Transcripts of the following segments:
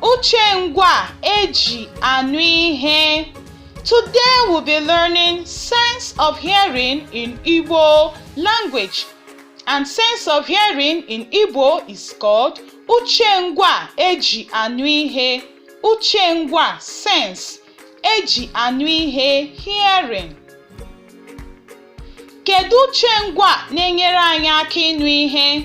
Uche ngwa eji anụ ihe. Today we'll be learning sense of hearing in Igbo language. And sense of hearing in Igbo is called uche ngwa eji anụ ihe. Uche ngwa sense eji anụ ihe hearing. Kedu uche ngwa na-enyere anyị aka ịnụ ihe?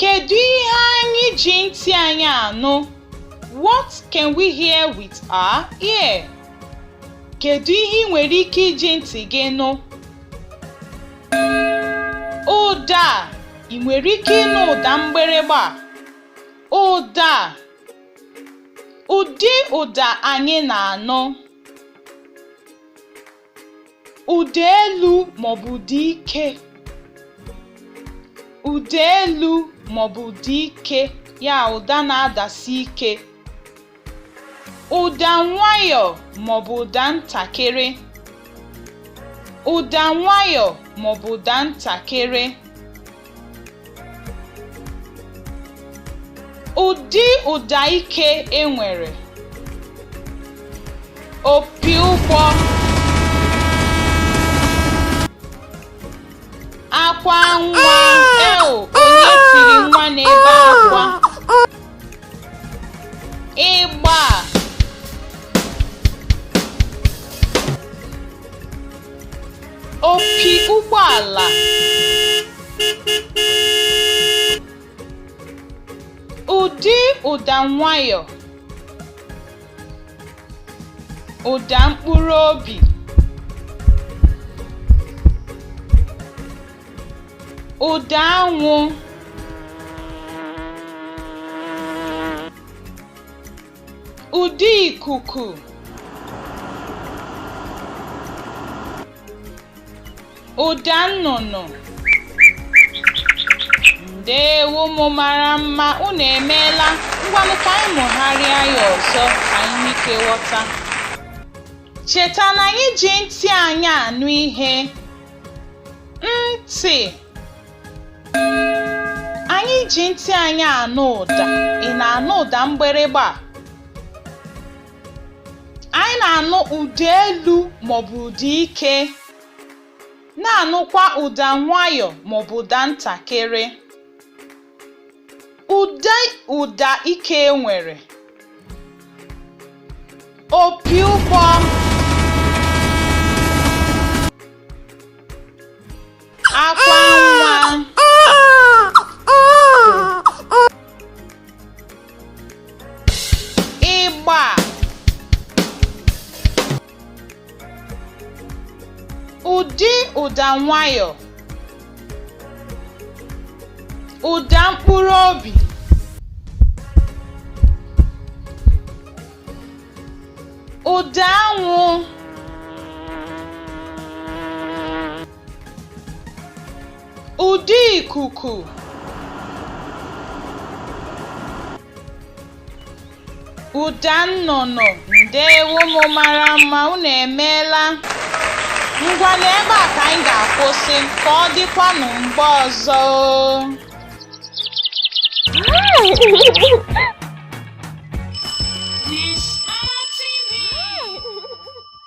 Kedu ihe anyị ji ntị anyị anụ? What can we hear with our ear? Kedu ihe ị nwere ike iji ntị gị nụ? Ụda ị nwere ike ịnụ ụda mgbịrịgba? Ụda ụdị ụda anyị na-anụ. Ụda elu maọbụ ụda ike. Ụda elu maọbụ ụda ike ya ụda na-adasi ike. Ụda nwayọọ maọbụ ụda ntakịrị. Ụda nwayọọ maọbụ ụda ntakịrị. Ụdị ụda ike e nwere. Opi ụgbọ. Akwa nwa. Eo, onye tiri nwa na-ebe akwa? Ịgba. Opi ụgbọala. Ụdị ụda nwayọ. Ụda mkpụrụ obi. Ụda anwụ. Ụda ikuku Ụda nnụnụ Ndewo ụmụ mara mma, unu emeela. Ngwanụ ka anyị mụgharịa ya ọzọ ka anyị nwee ike ghọta. Cheta na anyị ji ntị anyị anụ ihe. Ntị Anyị ji ntị anyị anụ ụda. Ị na-anụ ụda mgbịrịgba? Anyị na-anụ ụda elu maọbụ ụda ike, na-anụkwa ụda nwayọ maọbụ ụda ntakịrị. Ụdị ụda ike e nwere. Opi ụgbọ akwa nwa ịgba ụdị ụda nwayọ ụda mkpụrụ obi ụda anwụ Ụda ikuku Ụda nnụnụ ndeewo ụmụ mara mma unu emeela ngwanụ ebe a ka anyị ga-akwụsị ka ọ dịkwanụ mgbe ọzọ